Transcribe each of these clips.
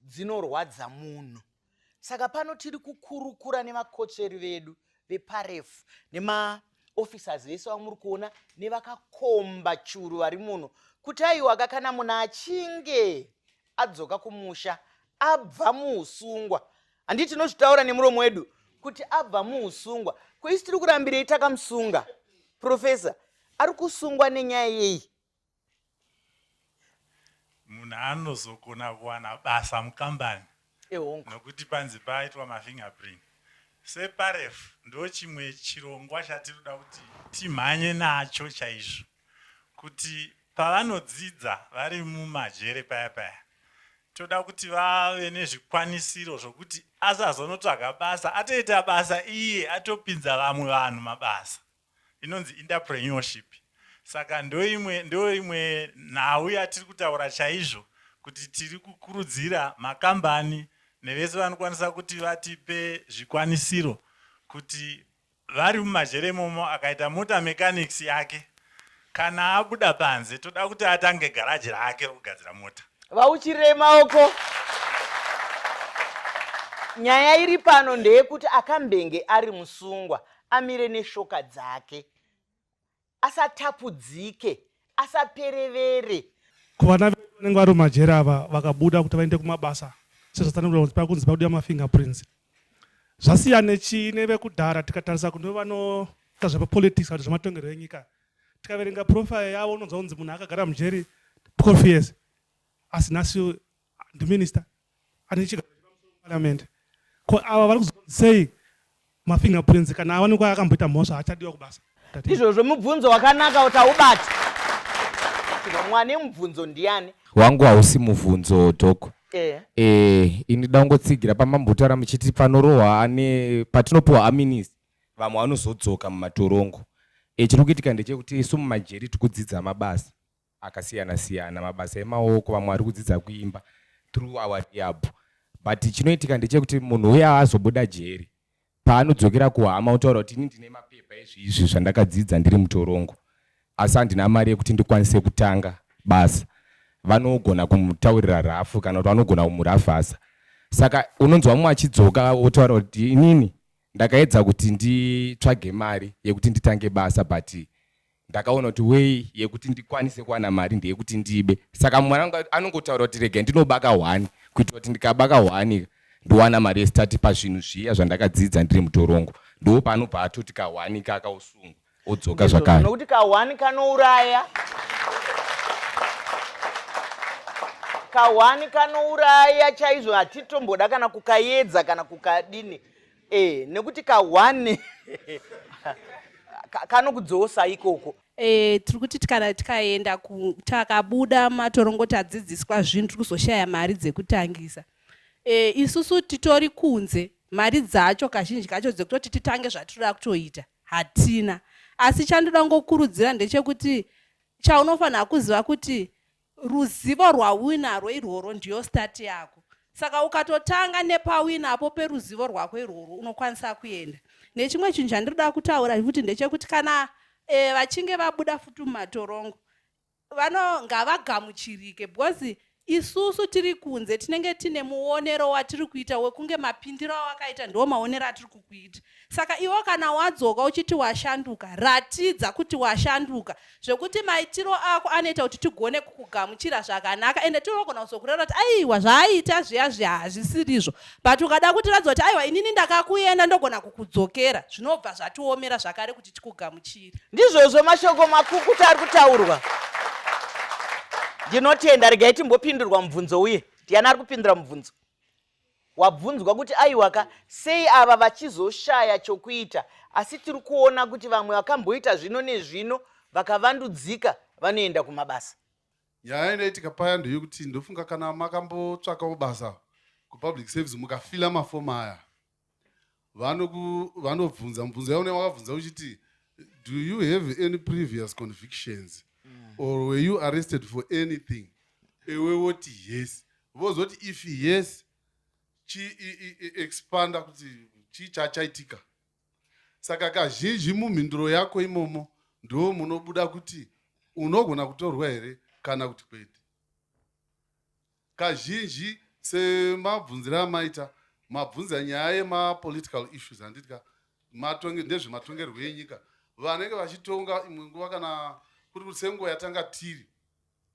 dzinorwadza munhu saka pano tiri kukurukura nemakotsveri vedu veparefu nemaofficers vese vamuri kuona nevakakomba churu vari muno kuti aiwaka kana munhu achinge adzoka kumusha abva muusungwa handi tinozvitaura nemuromo wedu kuti abva muusungwa koisi tiri kurambirei takamusunga profesa ari kusungwa nenyaya yeyi munhu anozogona kuwana basa mukambani nokuti panzi paitwa mafingerprint separef ndo chimwe chirongwa chatinoda kuti timhanye nacho chaizvo kuti pavanodzidza vari mumajere paya paya toda kuti vave nezvikwanisiro zvokuti asazonotsvaga basa atoita basa iye atopinza vamwe vanhu mabasa inonzi enterpreneurship saka ndoimwe ndoimwe nhau yatiri kutaura chaizvo kuti tiri kukurudzira makambani nevese vanokwanisa kuti vatipe zvikwanisiro kuti vari mumazhere imomo akaita mota mechanics yake Kana abuda panze toda kuti atange garaji rake rokugadzira mota. Vauchirei maoko. Nyaya iri pano ndeyekuti akambenge ari musungwa amire neshoka dzake asatapudzike asaperevere. Ko vana vedu vanenge vari mumajeri ava vakabuda kuti vaende kumabasa sezvatsanangurwa kunzi pakunzi pakudiwa mafingerprints zvasiyane chii nevekudhara tikatarisa kune vanoita zvepapolitics kana zvematongerwo enyika tikaverenga profile yavo unonzwa kunzi munhu akagara mujeri 12 years asi nhasi ndiminister ane chigaro chepamusoroparliament ko ava vari kuzonzi sei mafingerprints kana awanikwa akamboita mhosva achadiwa kubasa ndizvozvo mubvunzo wakanaka kuti aubati mwana emubvunzo ndiani wangu hausi mubvunzo dok eh. eh, ini dangotsigira pamambotaura muchiti panorohwa ane patinopiwa aminis vamwe vanozodzoka mumatorongo eh, chiri kuitika ndechekuti isu mumajeri tikudzidza mabasa akasiyana siyana mabasa emaoko vamwe vari kudzidza kuimba through our rehab but chinoitika ndechekuti munhu uya azobuda jeri paanodzokera kuhama otaura kuti ini ndine mapepa ezvi izvi zvandakadzidza ndiri mutorongo asi handina mari yekuti ndikwanise kutanga basa vanogona kumutaurira rafu kana kuti vanogona kumurafasa saka unonzwa mumwe achidzoka otaura kuti inini ndakaedza kuti nditsvage mari yekuti nditange basa but ndakaona kuti wei yekuti ndikwanise kuwana mari ndeyekuti ndibe saka mwana wangu anongotaura kuti regai ndinobaka hwani kuitira kuti ndikabaka hwani ndowana mari yestati pazvinhu zviya zvandakadzidza ndiri mutorongo ndoo paanobva atoti kahwani kaka osungwa odzoka zvakare nokuti kahwani kanouraya kahwani kanouraya chaizvo hatitomboda kana kukayedza kana kukadini Eh, nekuti ka one kanokudzosa ikoko e, tiri kuti kana tikaenda takabuda matorongo tadzidziswa zvinhu tiri kuzoshaya mari dzekutangisa e, isusu titori kunze mari dzacho kazhinji kacho dzekutoti titange zvatinoda kutoita hatina asi chandoda ngokurudzira ndechekuti chaunofanira kuziva kuti Ruzivo rwauinarwo irworwo ndiyo start yako. Saka ukatotanga nepawina apo peruzivo rwako irworwo unokwanisa kuenda. Nechimwe chinhu chandinoda kutaura futi ndechekuti kana eh, vachinge vabuda futi mumatorongo vano ngavagamuchirike because isusu tiri kunze tinenge tine muonero watiri kuita wekunge mapindiro awakaita ndiwo maonero atiri kukuita Saka iwe kana wadzoka uchiti washanduka, ratidza kuti washanduka zvekuti maitiro ako anoita kuti tigone kukugamuchira zvakanaka ende tinogona kuzokureva kuti aiwa zvaaiita zviya zviya hazvisirizvo but ukada kuti ratidza kuti aiwa inini ndakakuenda ndogona kukudzokera zvinobva zvatiomera zvakare kuti tikugamuchire. Ndizvozvo mashoko makukuta ari kutaurwa. Ndinotenda, regai timbopindurwa mubvunzo uye ndiani ari kupindura mubvunzo? wabvunzwa kuti aiwaka sei ava vachizoshaya chokuita asi tiri kuona kuti vamwe vakamboita zvino nezvino vakavandudzika vanoenda kumabasa nyaya inoitika paya ndeyekuti ndofunga kana makambotsvakawo basa kupublic service mukafila mafomu aya vanobvunza mubvunzo yaune wakabvunza uchiti do you have any previous convictions mm. or were you arrested for anything ewe woti yes vozoti if yes chiexpanda e, e, kuti chii chachaitika saka kazhinji mumhinduro yako imomo ndo munobuda kuti unogona kutorwa here kana kuti kwete Kazhinji semabvunzire amaita mabvunza nyaya yemapolitical issues handiti ka ndezvematongerwo enyika vanenge vachitonga imwe nguva kana kuri kuti senguva yatanga tiri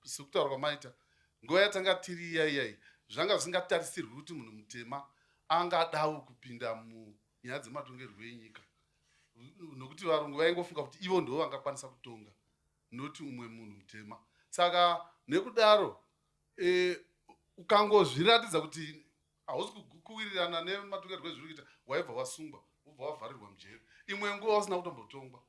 sekutaura kwamaita nguva yatanga tiri iyaiyai zvanga zvisingatarisirwi kuti munhu mutema angadawo kupinda munyaya dzematongerwo enyika nokuti varungu vaingofunga kuti ivo ndivo vangakwanisa kutonga noti umwe munhu mutema saka nekudaro Eh, ukangozviratidza kuti hausi kugu- kuwirirana nematongerwo ezviri kuita waibva wasungwa wobva wavharirwa mujeri imwe nguva wasina kutombotongwa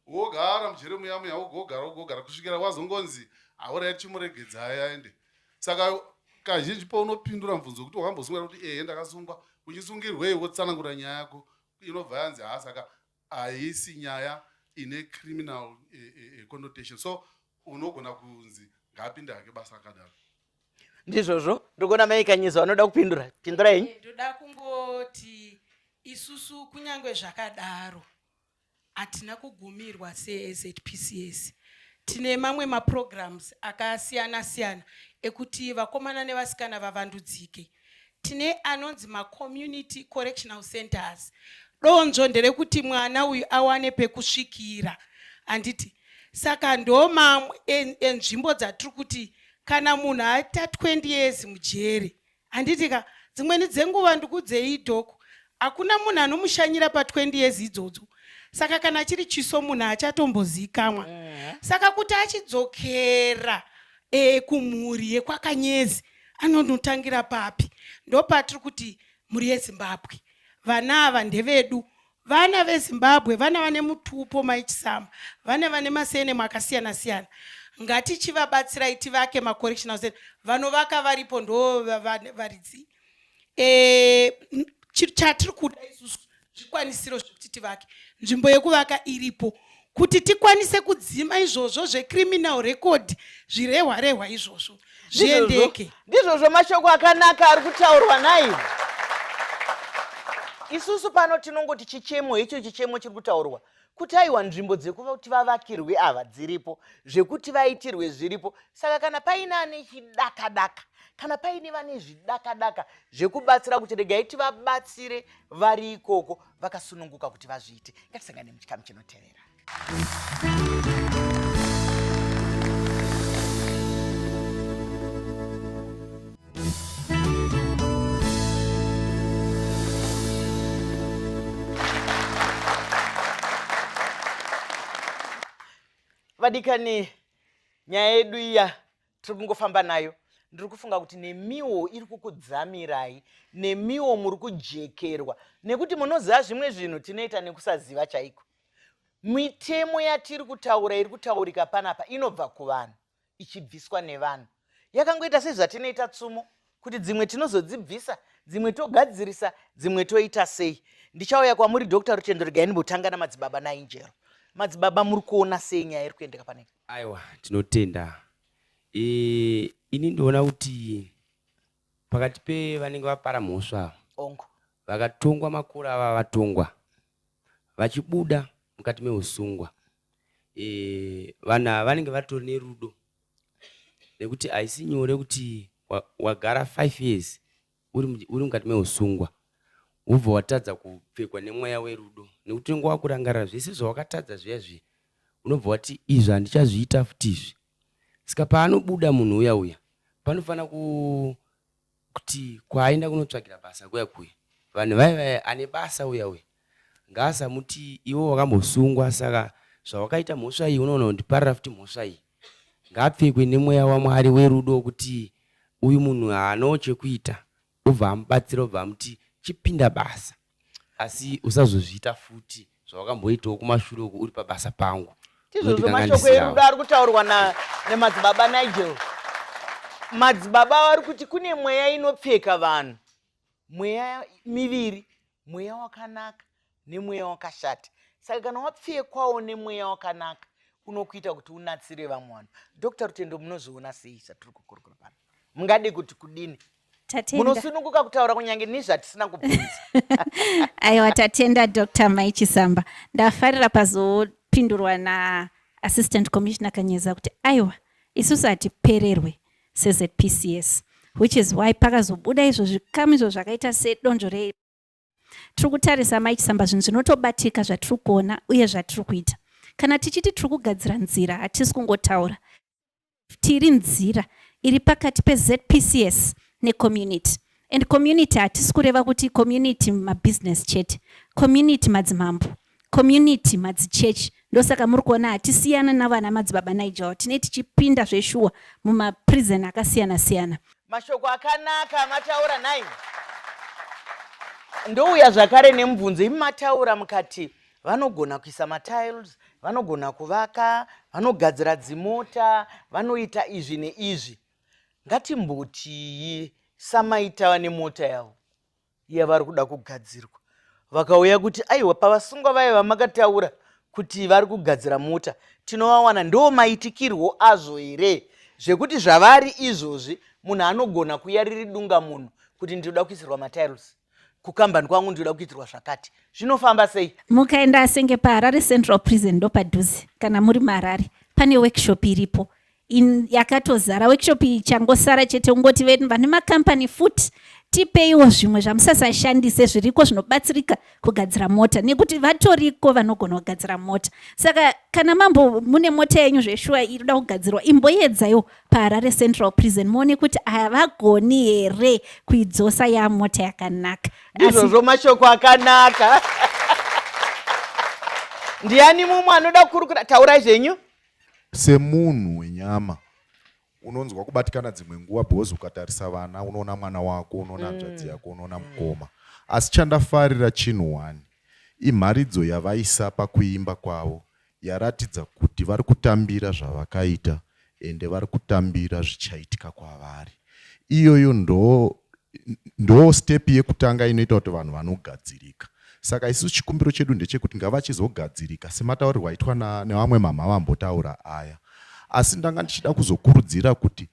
wogara mujeri muya muya wogogara wogogara kusvikira wazongonzi haurai chimuregedzai aende saka kazhinji paunopindura mubvunzo wekuti wakambosungwa kuti ehe ndakasungwa uchisungirwei wotsanangura nyaya yako inobva yanzi haa saka haisi nyaya ine criminal eh, eh, eh, connotation so unogona kunzi ngaapinde hake basa akadaro ndizvozvo ndikuona mai kanyizo vanoda kupindura pindura henyu eh, ndoda kungoti isusu kunyange zvakadaro hatina kugumirwa sezpcs tine mamwe maprograms akasiyana siyana ekuti vakomana nevasikana vavandudzike tine anonzi macommunity correctional centers donzvo nderekuti mwana uyu awane pekusvikira handiti saka ndo mamwe enzvimbo dzatiri kuti kana munhu aita 20 years mujeri handiti ka dzimweni dzenguva ndikudzei idhoko hakuna munhu anomushanyira pa20 years idzodzo saka kana chiri chiso munhu achatombozikamwa saka kuti achidzokera e, kumhuri yekwakanyezi anonotangira papi ndopatiri kuti mhuri yezimbabwe vana ava ndevedu vana vezimbabwe vana vane mutupo maichisama vana vane masenemo akasiyana siyana ngatichivabatsirai tivake macorrectional center vanovaka varipo ndo varidzi e, chatiri kuda isusu zvikwanisiro zvekuti tivake nzvimbo yekuvaka iripo kuti tikwanise kudzima izvozvo zvecriminal record zvirehwa rehwa izvozvo zviendeke ndizvozvo mashoko akanaka ari kutaurwa nai isusu pano tinongoti chichemo icho chichemo chiri kutaurwa kuti aiwa nzvimbo dzekuva kuti vavakirwe ava dziripo zvekuti vaitirwe zviripo saka kana paine ane chidakadaka kana paine vane zvidakadaka zvekubatsira kuti regai tivabatsire vari ikoko vakasununguka kuti vazviite ngatisangane muchikamu chinotevera vadikani nyaya yedu iya tiri kungofamba nayo ndiri kufunga kuti nemiwo iri kukudzamirai nemiwo muri kujekerwa nekuti munoziva zvimwe zvinhu tinoita nekusaziva chaiko mitemo yatiri kutaura iri kutaurika panapa inobva kuvanhu ichibviswa nevanhu yakangoita sezvatinoita tsumo kuti dzimwe tinozodzibvisa dzimwe togadzirisa dzimwe toita sei ndichauya kwamuri dr rutendo regai ndimbotanga namadzibaba nainjero madzibaba muri kuona sei nyaya iri kuendeka panei aiwa tinotenda e, ini ndiona kuti pakati pevanenge vapara mhosva ava ongo vakatongwa makura ava vatongwa vachibuda mukati meusungwa eh, vanhu ava vanenge vatori nerudo nekuti haisi nyore kuti wagara five years uri mukati meusungwa wobva watadza kupfekwa nemweya werudo nekuti unenge wakurangarira zvese zvawakatadza zviya zviya unobva wati izvi handichazviita futi izvi saka paanobuda munhu uya uya panofanira Kuti kwaaenda kunotsvagira basa kuya kuya vanhu vaye vaye ane basa uya uya ngaasamuti iwe wakambosungwa saka zvawakaita mhosva iyi unoona kundiparira futi mhosva iyi ngaapfekwe nemweya wamwari werudo wekuti uyu munhu haanawo chekuita obva amubatsira obva amuti chipinda basa asi usazozviita futi zvawakamboitawo kumashure uku uri pabasa pangu tizvozvo mashoko erudo ari kutaurwa nemadzibaba nigel madzibaba vari kuti kune mweya inopfeka vanhu mweya miviri mweya wakanaka nemweya wakashata saka kana wapfekwawo nemweya wakanaka unokuita kuti unatsire vamwe vanhu dr rutendo munozviona sei satiri kukurukura pano mungadi kuti kudini munosununguka kutaura kunyange nezvatisina kubvunza aiwa tatenda dr mai chisamba ndafarira pazopindurwa naassistant commissioner kanyeza kuti aiwa isusu hatipererwe sezpcs which is why pakazobuda izvo zvikamu izvo zvakaita sedonzvo Tiri kutarisa Mike Samba zvinhu zvinotobatika zvatiri kuona uye zvatiri kuita. Kana tichiti tiri kugadzira nzira hatisi kungotaura. Tiri nzira iri pakati peZPCS necommunity. And community hatisi kureva kuti community mabusiness chete. Community madzimambo. Community madzichechi ndosaka muri kuona hatisiyana navana madzibaba Nigel tine tichipinda zveshuwa mumaprison akasiyana siyana. Mashoko akanaka mataura nhai. Ndouya zvakare nemubvunzo imi mataura mukati vanogona kuisa matiles, vanogona kuvaka, vanogadzira dzimota, vanoita izvi neizvi. Ngatimbotii samaitawa nemota yavo. iya vari kuda kugadzirwa vakauya kuti aiwa pavasungwa vaye vamakataura kuti vari kugadzira mota tinovawana ndo maitikirwo azvo here zvekuti zvavari izvozvi munhu anogona kuya riri dunga munhu kuti ndinoda kuisirwa matiles kukambani kwangu ndinoda kuitirwa zvakati zvinofamba sei mukaenda senge paharare central prison ndopadhuze kana muri maharare pane workshop iripo in yakatozara workshop iyi changosara chete ungoti venu vane makampani futi tipeiwo zvimwe zvamusasashandise zviriko zvinobatsirika kugadzira mota nekuti vatoriko vanogona kugadzira mota saka kana mambo mune mota yenyu zveshuwa irikuda kugadzirwa imboyedzaiwo paharare central prison muone kuti havagoni here kuidzosa yamota yakanaka ndizvozvo mashoko akanaka ndiani mumwe anoda kukurukura taurai zvenyu Semunhu wenyama unonzwa kubatikana dzimwe nguva because ukatarisa vana unoona mwana wako unoona mm. hanzvadzi mm. yako unoona mukoma asi chandafarira chinhu one imharidzo yavaisa pakuimba kwavo yaratidza kuti vari kutambira zvavakaita ende vari kutambira zvichaitika kwavari iyoyo ndo ndo step yekutanga inoita kuti vanhu vanogadzirika saka isu chikumbiro chedu ndechekuti ngavachizogadzirika semataurirwo aitwa nevamwe mamha vambotaura aya asi ndanga ndichida kuzokurudzira kuti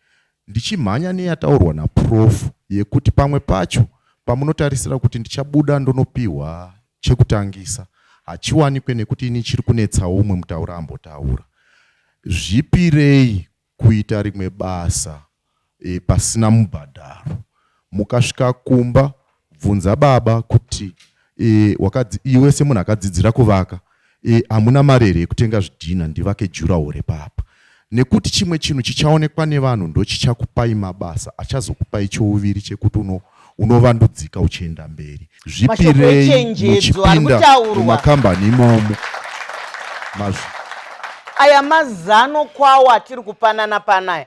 ndichimhanya neyataurwa naprof yekuti pamwe pacho pamunotarisira kuti ndichabuda ndonopiwa chekutangisa hachiwanikwe nekuti ini chiri kunetsawo umwe mutaura ambotaura zvipirei kuita rimwe basa e, pasina mubhadharo mukasvika kumba bvunza baba kuti e, wakadzi, iwe semunhu akadzidzira kuvaka e, hamuna e, mari here yekutenga zvidhina ndivake jurawo repapa nekuti chimwe chinhu chichaonekwa nevanhu ndochichakupai mabasa achazokupai chouviri chekuti uno unovandudzika uchienda mberi zvipirei muchipinda mumakambani imomo aya mazano kwawo atiri kupanana panaya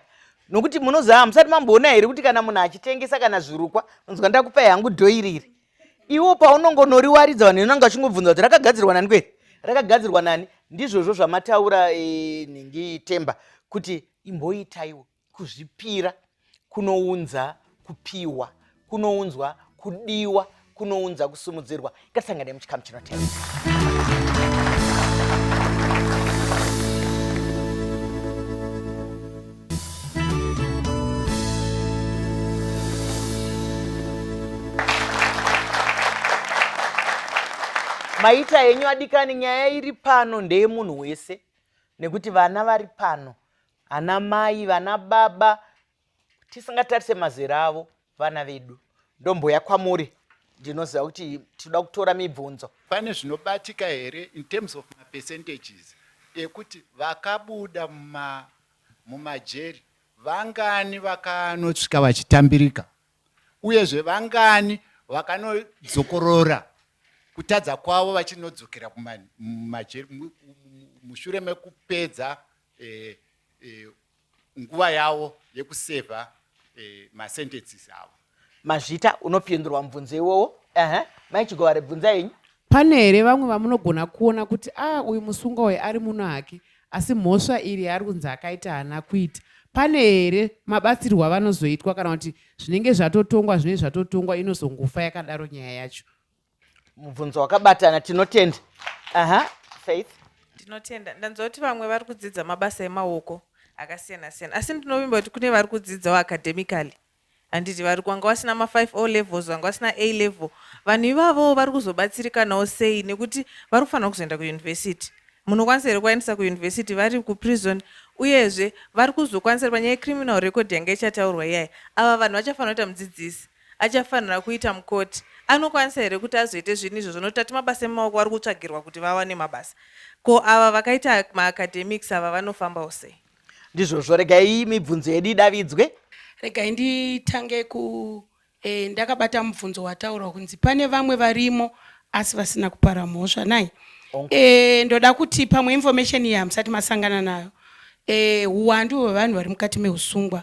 nokuti munoziva hamusati mamboona here kuti kana munhu achitengesa kana zvirukwa unonzwa ndakupai hangu dhoiriri iwo paunongonoriwaridza vanhu inonanga vachingobvunza kuti rakagadzirwa nani kwei rakagadzirwa nani ndizvozvo zvamataura e, nhingi temba kuti imboitaiwo Kuzvipira kunounza kupiwa, kunounzwa kudiwa, kunounza kusumudzirwa. Ngatisangane muchikamu chinotevera. maita henyu adikani nyaya iri pano ndeyemunhu wese nekuti vana vari pano ana mai vana baba tisingatarise mazera avo vana vedu ndomboya kwamuri ndinoziva kuti tinoda kutora mibvunzo pane zvinobatika here in terms of mapercentages ekuti vakabuda mumajeri vangani vakanosvika vachitambirika uyezve vangani vakanodzokorora kutadza kwavo vachinodzokera kumajeri mushure mekupedza eh, eh, nguva yavo yekusevha eh, masentences avo mazvita unopindurwa mubvunzo iwowo ehe mai chigovare bvunza yenyu pane here vamwe vamunogona kuona kuti a ah, uyu musungwa uyu ari muno hake asi mhosva iri yaari kunzi akaita haana kuita pane here mabatsirwo avanozoitwa kana kuti zvinenge zvatotongwa zvinenge zvatotongwa inozongofa yakadaro nyaya yacho mubvunzo wakabatana tinotenda aha faith ndinotenda ndanzwa kuti vamwe vari kudzidza mabasa emaoko akasiyana siyana asi ndinovimba kuti kune vari kudzidzawo academically handiti vari kwanga vasina ma5 o levels vanga vasina a level vanhu ivavowo vari kuzobatsirikanawo sei nekuti vari kufanira kuzoenda kuyunivhesiti munokwanisa here kuvaendesa kuyunivhesiti vari kuprison uyezve vari kuzokwanisa ri panyaya yecriminal record yanga ichataurwa iyaya ava vanhu vachafanira kuita mudzidzisi achafanira kuita mukoti anokwanisa here kuti azoite zvinhu izvozvo nokuti ati mabasa emaoko vari kutsvagirwa kuti vawane mabasa ko ava vakaita maacademics ava vanofambawo sei ndizvozvo regai mibvunzo yedu idavidzwe regai nditange ku e, ndakabata mubvunzo wataurwa kunzi pane vamwe varimo asi vasina kupara mhosva nai e, ndoda kuti pamwe information iyi hamusati masangana nayo eh, huwandu hwevanhu vari mukati meusungwa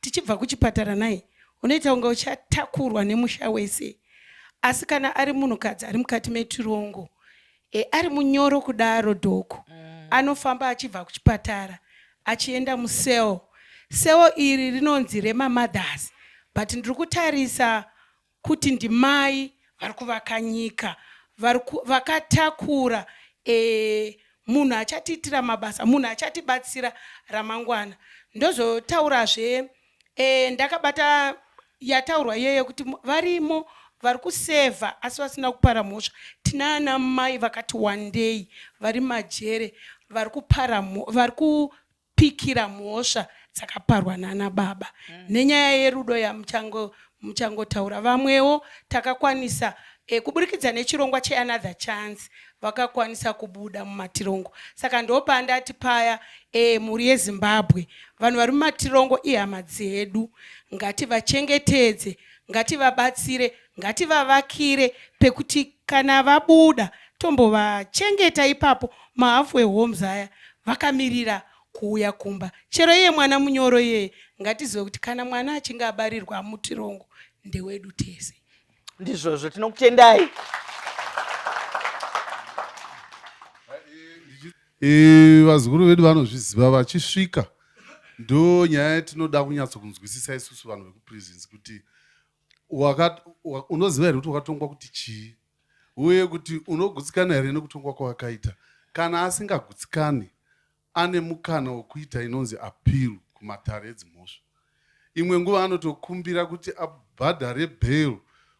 tichibva kuchipatara nhai unoita kunge uchatakurwa nemusha wese asi kana ari munhukadzi ari mukati metirongo e, ari munyoro kudaro dhoko mm. anofamba achibva kuchipatara achienda museo seo iri rinonzi remamothers but ndiri kutarisa kuti ndimai vari kuvaka nyika vakatakura e, munhu achatiitira mabasa munhu achatibatsira ramangwana ndozotaurazve e, ndakabata yataurwa iyoyo yekuti varimo vari kusevha asi vasina kupara mhosva tinaana mai vakati wandei vari majere vari kupara vari pikira mhosva dzakaparwa nana baba mm. nenyaya yerudo yamuchangotaura vamwewo takakwanisa e, kuburikidza nechirongwa cheanother chance vakakwanisa kubuda mumatirongo saka ndopandati paya e, mhuri yezimbabwe vanhu vari mumatirongo ihama dzedu ngativachengetedze ngativabatsire Ngativavakire pekuti kana vabuda tombovachengeta ipapo mahalfway homes aya vakamirira kuuya kumba. Chero iye mwana munyoro iyeye ngatizive kuti kana mwana achinge abarirwa mutirongo ndewedu tese. Ndizvozvo tinokutendai. Eh, vazukuru vedu vanozviziva vachisvika ndo nyaya tinoda kunyatso kunzwisisa isusu vanhu vekuprisons kuti unoziva here kuti wakatongwa kuti chii uye kuti unogutsikana here nekutongwa kwawakaita kana asingagutsikani ane mukana wekuita inonzi appeal kumatare edzimhosva imwe nguva anotokumbira kuti abhadhare bail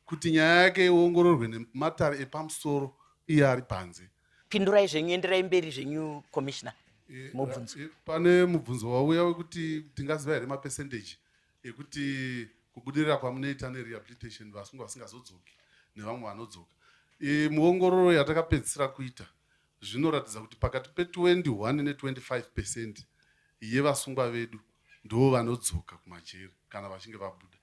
kuti nyaya yake iongororwe nematare epamusoro iye ari panze pindurai zvenyu enderai mberi zvenyu commissioner mubvunzo pane mubvunzo wauya wekuti tingaziva here mapercentage ekuti kubudirira kwamunoita nerehabilitation vasungwa vasingazodzoki nevamwe vanodzoka e, muongororo yatakapedzisira kuita zvinoratidza kuti pakati pe21 ne25 percent yevasungwa vedu ndoo vanodzoka kumajeri kana vachinge vabuda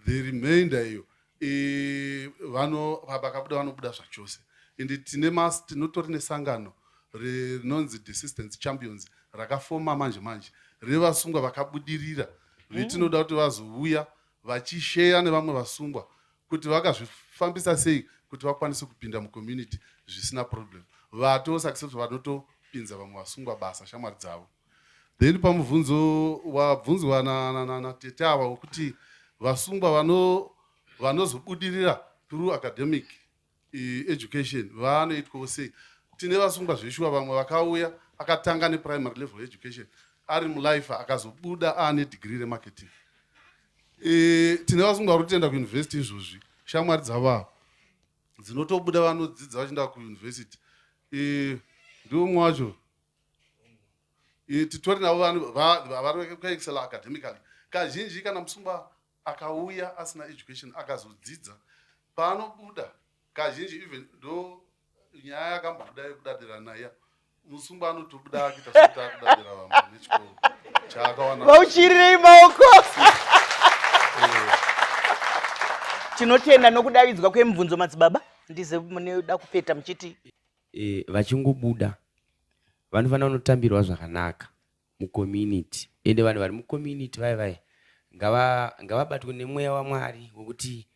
the remainder iyo e, vano vakabuda vanobuda zvachose ende tine mas tinotori nesangano rinonzi desistance champions rakafoma manje manje revasungwa vakabudirira vetinoda mm. kuti vazouya vachisheya nevamwe vasungwa kuti vakazvifambisa sei kuti vakwanise kupinda mucommunity zvisina problem vatosuccessful vanotopinza vamwe vasungwa basa shamwari dzavo Then pamubvunzo wabvunzwa na, na, na, na tete ava wekuti vasungwa vano vanozobudirira through academic eh, education vanoitwawo sei tine vasungwa zveshuwa vamwe vakauya akatanga neprimary level education ari mulife akazobuda aane degree remarketing e, tine vasungwa vari kutenda kuuniversity izvozvi shamwari dzavavo dzinotobuda vanodzidza vachienda kuuniversity e, ndiwo mumwe wacho titori navo vanhu vavarikuexcela academically kazhinji kana musungwa akauya asina education akazodzidza paanobuda kazhinji even ndo nyaya yakambobuda yekudadira naya musungwa anotobuda akita sekuti akudadira vamwe nechikoro chaakawana vauchirirei maoko eh. tinotenda nokudavidzwa kwemubvunzo madzibaba ndize munoda kupeta muchiti e, vachingobuda vanofanira kunotambirwa zvakanaka mucommunity ende vanhu vari mucommunity vaye vaye ngavabatwe nemweya wamwari wekuti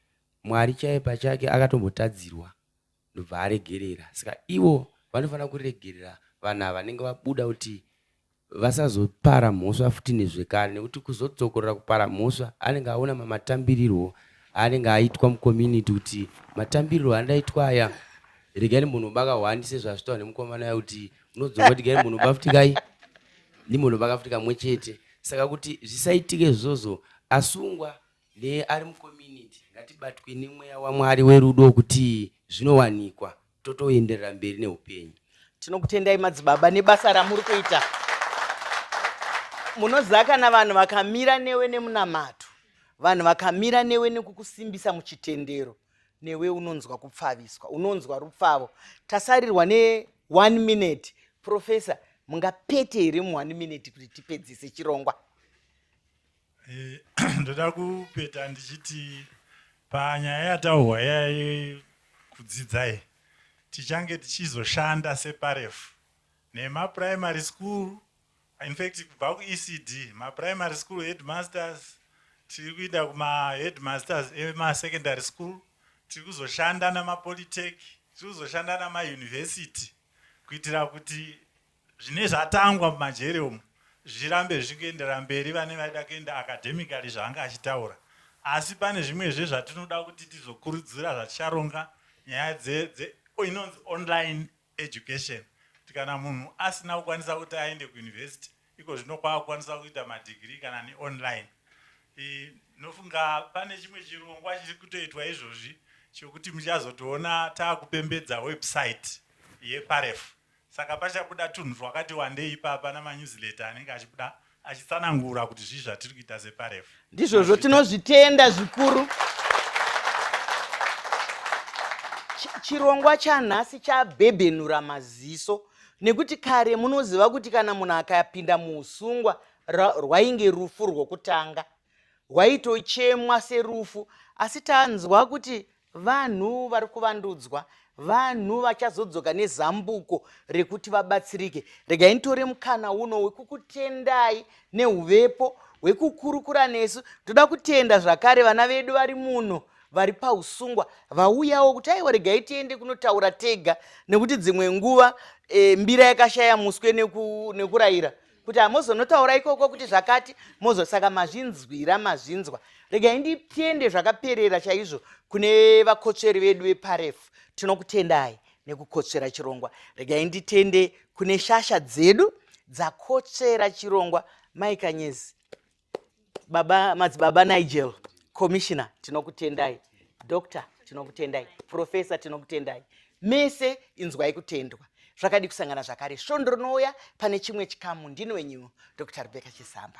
mwari chaiye pachake akatombotadzirwa ndobva aregerera saka ivo vanofanira kuregerera vanhu ava vanenge vabuda kuti vasazopara mhosva futi nezvekare nekuti kuzodzokorora kupara mhosva anenge aona mamatambirirwo aanenge aitwa mucommunity kuti matambirirwo andaitwa aya regai ndimbonoba kahwani sezvazvitawa nemukomana ya kuti unodzoka kuti gai ndimbonoba futi kai ndimbonoba ka futi kamwe chete saka kuti zvisaitike izvozvo asungwa neari mucommunity ngatibatwe nemweya wamwari werudo wekuti zvinowanikwa totoenderera mberi neupenyu tinokutendai madzibaba nebasa ramuri kuita munoziva kana vanhu vakamira newe nemunamato vanhu vakamira newe nekukusimbisa muchitendero newe unonzwa kupfaviswa unonzwa rupfavo tasarirwa ne one minute professor mungapete here mu one minute kuti tipedzise chirongwa Eh, ndoda kupeta ndichiti panyaya yataurwa yaye kudzidzai tichange tichizoshanda separefu nemaprimary school infact kubva kuecd maprimary school headmasters tiri kuinda kumaheadmasters emasecondary school tiri kuzoshanda namapolitech tiri kuzoshanda namauniversity kuitira kuti Zvine zvatangwa mumajeri umu zvirambe zvichikuendera mberi vane vaida kuenda academically zvaanga achitaura asi pane zvimwezve zvatinoda kuti tizokurudzira zvaticharonga nyaya dze, dze inonzi online education kuti kana munhu asina kukwanisa kuti aende kuuniversity iko zvino kwaakukwanisa kuita madigiri kana neonline ndinofunga pane chimwe chirongwa chiri kutoitwa izvozvi chokuti muchazotoona taakupembedza website yeparefu Saka pachabuda tunhu twakati wandei ipapa namanyuziletter anenge achibuda achitsanangura kuti zvii zvatiri kuita seParef. Ndizvozvo, tinozvitenda zvikuru. Chirongwa chanhasi chabhebhenura maziso nekuti kare munoziva kuti kana munhu akapinda muusungwa rwainge rufu rwokutanga rwaitochemwa serufu asi tanzwa kuti Vanhu vari kuvandudzwa, vanhu vachazodzoka nezambuko rekuti vabatsirike. Regai nditore mukana uno wekukutendai neuvepo hwekukurukura nesu. Toda kutenda zvakare vana vedu vari muno vari pausungwa vauyawo kuti aiwa regai tiende kunotaura tega nekuti dzimwe nguva e, mbira yakashaya muswe neku, nekurayira kuti hamozonotaura ikoko kuti zvakati mozo saka mazvinzwira mazvinzwa regai nditende zvakaperera chaizvo kune vakotsveri vedu veparefu tinokutendai nekukotsvera chirongwa regai nditende kune shasha dzedu dzakotsvera chirongwa maikanyezi baba madzibaba nigel commissioner tinokutendai doctor tinokutendai professor tinokutendai mese inzwai kutendwa zvakadi kusangana zvakare svondo rinouya pane chimwe chikamu ndini wenyu dr rebeka chisamba